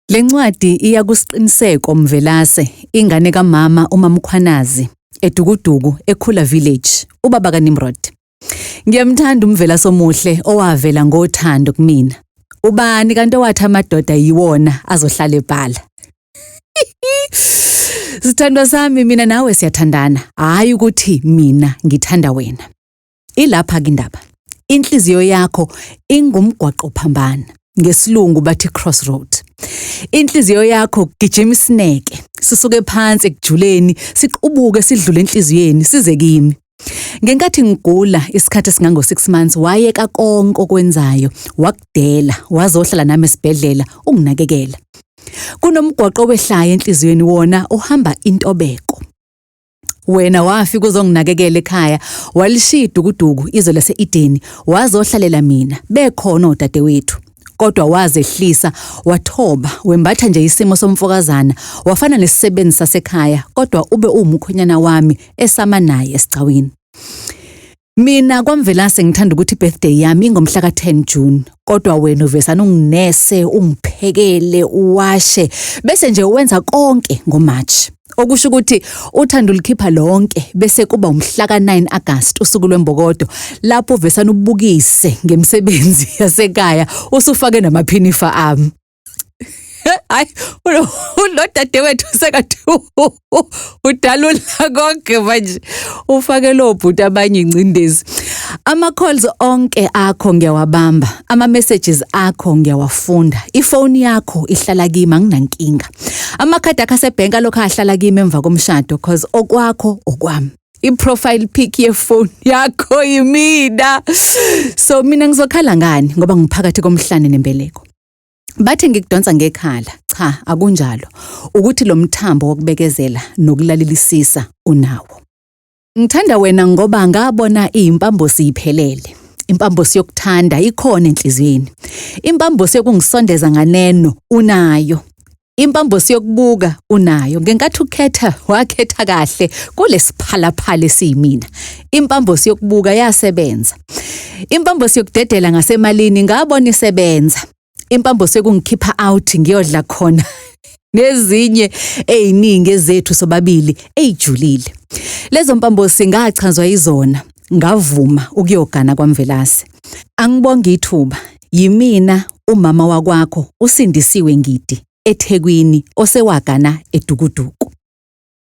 Le ncwadi iya kuSiqiniseko Mvelase, ingane kamama uMaMkhwanazi, eDukuduku, eKhula Village, ubaba kaNimrod. Ngiyamthanda uMvelase omuhle owavela ngothando kumina. Ubani kanti owathi amadoda yiwona azohlala ebhala? Sithandwa sami mina nawe siyathandana, hhayi ukuthi mina ngithanda wena. Ilapha-ke indaba. Inhliziyo yakho ingumgwaqo phambana. NgesiLungu bathi crossroad. Inhliziyo yakho kugijima isineke. Sisuke phansi ekujuleni, siqubuke sidlule enhliziyweni, size kimi. Ngenkathi ngigula isikhathi esingango 6 months wayeka konke okwenzayo wakudela wazohlala nami esibhedlela unginakekela. Kunomgwaqo wehlaya enhliziyweni wona uhamba intobeko. Wena wafika uzonginakekela ekhaya, walishiya idukuduku izwe lase-Edeni, wazohlalela mina, bekhona odadewethu. Kodwa wazehlisa, wathoba, wembatha nje isimo somfokazana, wafana nesisebenzi sasekhaya, kodwa ube uwumkhwenyana wami esama naye esigcawini. Mina kwaMvelase ngithanda ukuthi birthday yami ingomhla ka-10 June kodwa wena uvesana unginese ungiphekele uwashe bese nje wenza konke ngoMarch okusho ukuthi uthanda ulikhipha lonke bese kuba umhla ka-9 August usuku lwembokodo lapho uvesana ubukise ngemisebenzi yasekhaya usufake namaphinifa ami hayi unodade wethu sekathi udalula konke manje ufake lo bhuti abanye ingcindezi ama calls onke akho ngiyawabamba ama messages akho ngiyawafunda ifoni yakho ihlala kimi anginankinga amakhadi akho asebank alokho ahlala kimi emva komshado cause okwakho okwami i-profile pic yefoni yakho yimina so mina ngizokhala ngani ngoba ngiphakathi komhlane nembeleko Bathi ngikudonsa ngekhala. Cha, akunjalo. Ukuthi lo mthambo wokubekezela nokulalelisisa unawo. Ngithanda wena ngoba ngabona iyimpambo siyiphelele. Impambo siyokuthanda ikhona enhliziyweni. Impambo siyokungisondeza nganeno unayo. Impambosi yokubuka unayo ngenkathi ukhetha wakhetha kahle kulesiphalaphala esiyimina. Impambosi yokubuka yasebenza. Impambosi yokudedela ngasemalini ngabona isebenza. Impambosi yokungikhipha out ngiyodla khona nezinye eziningi ezethu sobabili ejulile. Lezo mpambosi ngachazwa izona ngavuma ukuyogana kwaMvelase. Angibonge ithuba Yimina umama wakwakho uSindisiwe Ngidi, eThekwini, osewagana edukuduku.